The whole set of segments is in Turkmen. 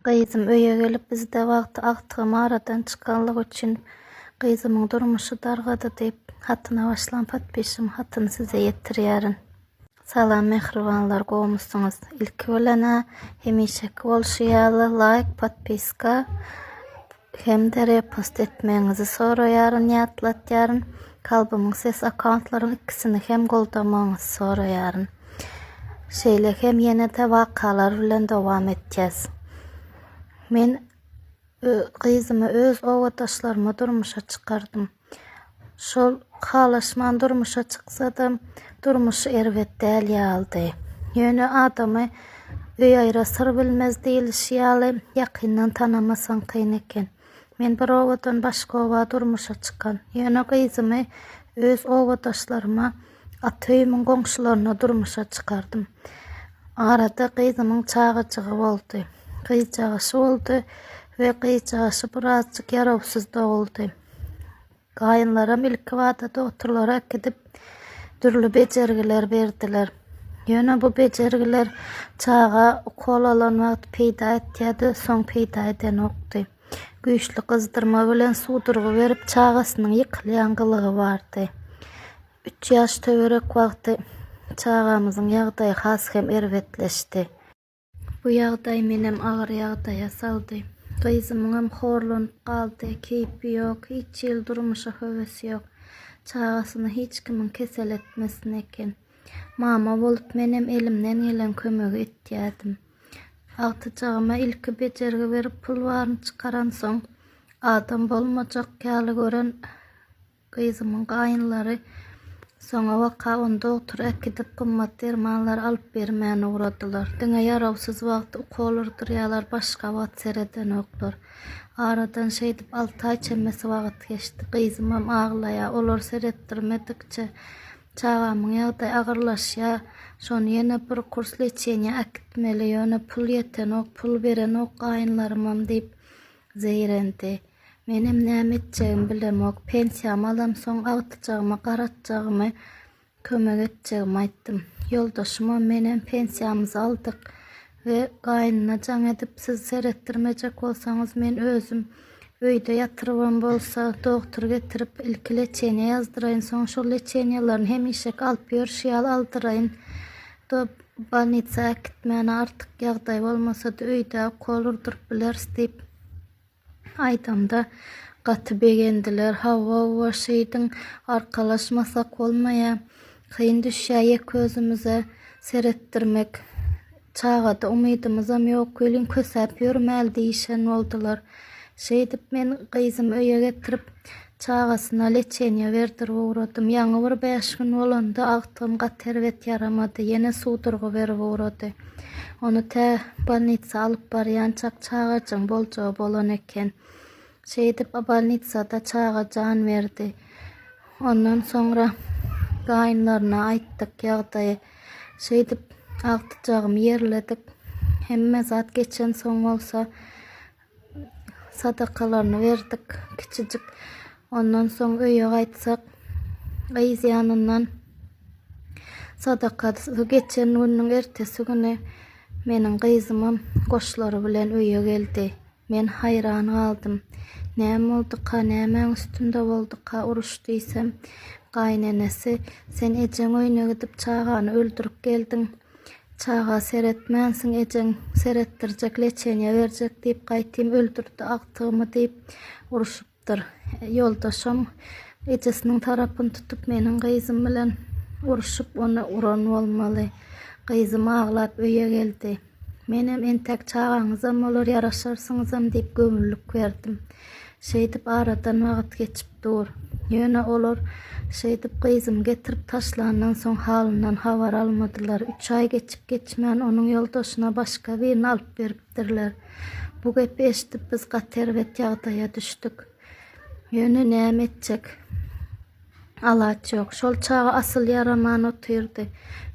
Gyzym öýe gelip bizde wagty agtygym aradan çykanlygy üçin gyzymyň durmuşy dargady diýip hatyna başlan podpisimi hatyny size ýetirýärin. Salam mähribanlar gowmysyňyz ilki bilenä hemişeki bolşy ýaly laýk podpiska Hem-de repost etmegiňizi soraýaryn, ýatlatýaryn. Kalbymyň sesi akkauntlaryň ikisini hem goldamagyňyzy soraýaryn. Şeýle hem ýene-de wakalar bilen dowam etýäs. Men gyzymy öz obadaşlaryma durmuşa çykardym. Şol halaşman durmuşa çyksadam, durmuş erbet däl ýalydy. Ýöne adamy öý aýra syr bilmez diýlişi ýaly, ýakyndan tanamasaň kyn eken. Men bir obadan başga oba durmuşa çykan. Ýöne gyzymy öz obadaşlaryma, ata öýümiň goňşularyna durmuşa çykardym. Arada gyzymyň çagajygy boldy. Gyzjagaşy boldy we gyzjagaşy birazjyk ýarawsyz doguldy. Gaýynlaram ilkibada dogturlara äkidip, dürli bejergiler berdiler. Ýöne bu bejergiler çaga ukol alan wagt peýda etýärdi, soň peýda edenokdy. Güýçli gyzdyrma bilen suwdurgy berip, çagasynyň ýykylýan gylygy bardy. Üç ýaş töwerek wagty çagamyzyň ýagdaýy has hem erbetleşdi. Bu ýagdaý menem agyr ýagdaýa saldy. Gyzymyňam horlanyp galdy, keýpi ýok, hiç hili durmuşa höwesi ýok. Çagasyny hiç kimiň kesel etmesin eken. Mama bolup menem elimden gelen kömegi etýärdim. Agtyjagyma ilki bejergi berip pul baryny çykaransoň, adam bolmajak ýaly gören Gyzymyň gaýynlary soňa waka ony dogtora äkidip, gymmat dermanlar alyp bermän ugradylar. Diňe ýarawsyz wagty ukol urdurýarlar, başga wagt seredenoklar. Aradan şeýdip alty aý çemesi wagt geçdi. Gyzymam aglaýar. Olar seretdirmedikçe, çagamyň ýagdaýy agyrlaşýar. Şony ýene bir kurs leçeniýä äkitmeli, ýöne pul ýetenok, pul berenok gaýynlarymam diýip zeýrendi. Menem näme etjegimi bilemok. Pensiýamy alamsoň agtyjagyma garatjagymy, kömek etjegimi aýtdym. Ýoldaşymam, menem pensiýamyzy aldyk we gaýnyna jaň edip, siz seretdirmejek bolsaňyz, men özüm öýde ýatyrybam bolsa, dogtur getirip, ilki lečeniýe ýazdyraýyn, soň şol leçeniýalaryny hemişeki alyp ýörşi ýaly aldyraýyn. Do, bolnisa äkitmäne artyk ýagdaý bolmasa-da, öýde ukol urduryp bileris diýip. Aýdamda gaty begendiler. Hawa-wa şeýdiň arkalaşmasak bolmaýa. Kyn düşýä ýeke özümize seretdirmek. Çagada umydymyzam ýok welin kösäp ýörmäli diýişen boldular. Şeýdip men gyzymy öýe getirip Çagasyna leçeniýa berdirip ugradym. Ýaňy bir bäş gün bolanda agtygym gaty erbet ýaramady. Ýene suwdurgy berip ugrady. Ony tä bolnitsa alyp barýançak çagajygyň boljagy bolan eken. Şeýdip bolnitsada çaga jan berdi. Ondan soňra gaýynlaryna aýtdyk ýagdaýy. Şeýdip agtyjagymy ýerledik. Hemme zat geçensoň bolsa Sadakalaryny berdik kiçijik. Ondan soň öýe gaýtsak, gyz ýanyndan sadakasy geçen günüň ertesi güni meniň gyzymam goşlary bilen öýe geldi. Men haýran galdym. Näme bolduka, nämäň üstünde bolduka uruş diýsem, gaýynenesi, Sen ejeň öýüne gidip çagany öldürip geldiň. Çaga seretmänsiň ejeň seretdirjek leçeniýa berjek diýip gaýtym öldürdi agtygymy diýip uruşypdyr. Ýoldaşam ejesiniň tarapyny tutup meniň gyzym bilen uruşyp ony uran bolmaly. Gyzym aglap öýe geldi. Menem entäk çagaňyzam bolar ýaraşarsyňyzam diýip göwünlik berdim. Şeýdip aradan wagt geçip dur. Ýöne olar şeýdip gyzymy getirip taşlandan soň halyndan habar almadylar. Üç aý geçip-geçmän onuň ýoldaşyna başga birini alyp beripdirler. Bu gepi eşidip biz gaty erbet ýagdaýa düşdük. Ýöne näme etjek? alaç ýok. Şol çaga asyl ýaraman otyrdy.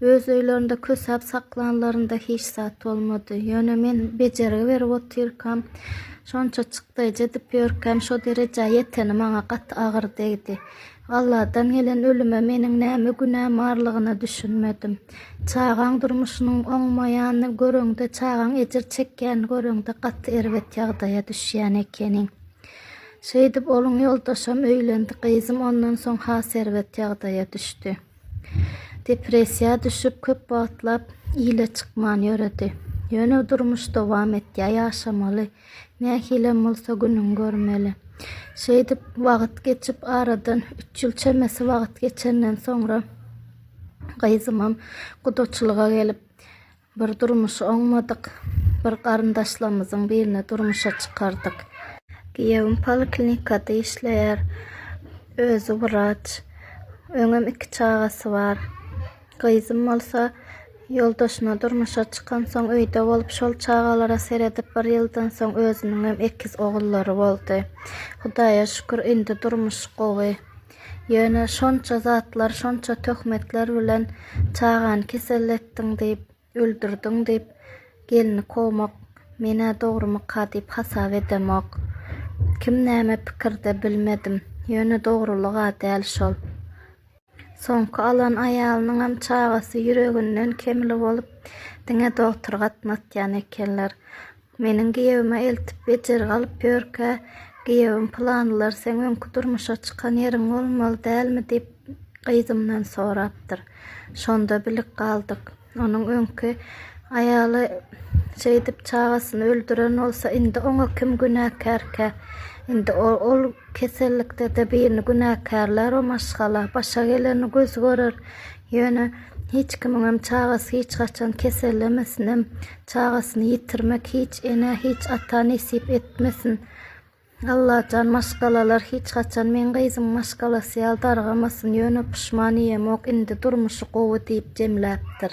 Öz öýlerinde kösäp saklanlarynda hiç zat bolmady. Ýöne men bejergi berip otyrkam, şonça çykdaýjy edip ýörkäm şo derejä ýeteni maňa gaty agyr degdi. Alladan gelen ölüme meniň näme günäm barlygyna düşünmedim. Çagaň durmuşynyň oňmaýanyny göreňde, çagaň ejir çekýänini göreňde gaty erbet ýagdaýa düşýän ekeniň. Şeýdip, onuň ýoldaşam öýlendi, gyzym ondan soň has erbet ýagdaýa düşdi. Depressiýa düşüp, köp wagtlap ile çykman ýöredi. Ýöne durmuş dowam etýär, ýaşamaly, nähilem bolsa günüňi görmeli. Şeýdip, wagt geçip, aradan üç ýyl çemesi wagt geçenden soňra gyzymam gudaçylyga gelip, Bir durmuşy oňmadyk bir garyndaşlarymyzyň birini durmuşa çykardyk. Giýewim poliklinikada işleýär. Özi wraç. Öňem iki çagasy bar. Gyzym bolsa ýoldaşyna durmuşa çykansoň öýde bolup şol çagalara seredip bir ýyldan soň özüniňem ekiz ogullary boldy. Hudaýa şükür indi durmuş gowy. Ýöne şonça zatlar, şonça töhmetler bilen çagany kesel etdiň diýip, öldürdiň diýip, gelni kowmak men-ä dogrumyka diýip hasap edemok. Kim näme pikirde, bilmedim. Ýöne dogrulyg-a däl şol. Soňky alan aýalynyňam çagasy ýüreginden kemli bolup, diňe dogtry gatnatýan ekenler. Meniň giýewime eltip bejergi alyp ýörkä, giýewim Pylanlar seň öňki durmuşa çykan ýeriň bolmaly dälmi diýip gyzymdan sorapdyr. Şonda bilip galdyk. Onuň öňki aýaly şeýdip çagasyny öldüren bolsa indi oňa kim günäkärkä? Indi ol kesellikde-de birini günäkärlär o maşgala. Başa geleni göz görer. Ýöne hiç kimiňem çagasy hiç haçan kesellemesinem. Çagasyny ýitirmek hiç enä hiç ata nesip etmesin Allajan maşgalalar hiç haçan meň gyzym maşgalasy ýaly dargamasyn ýöne puşman ýemok indi durmuşy gowy diýip jemläpdir.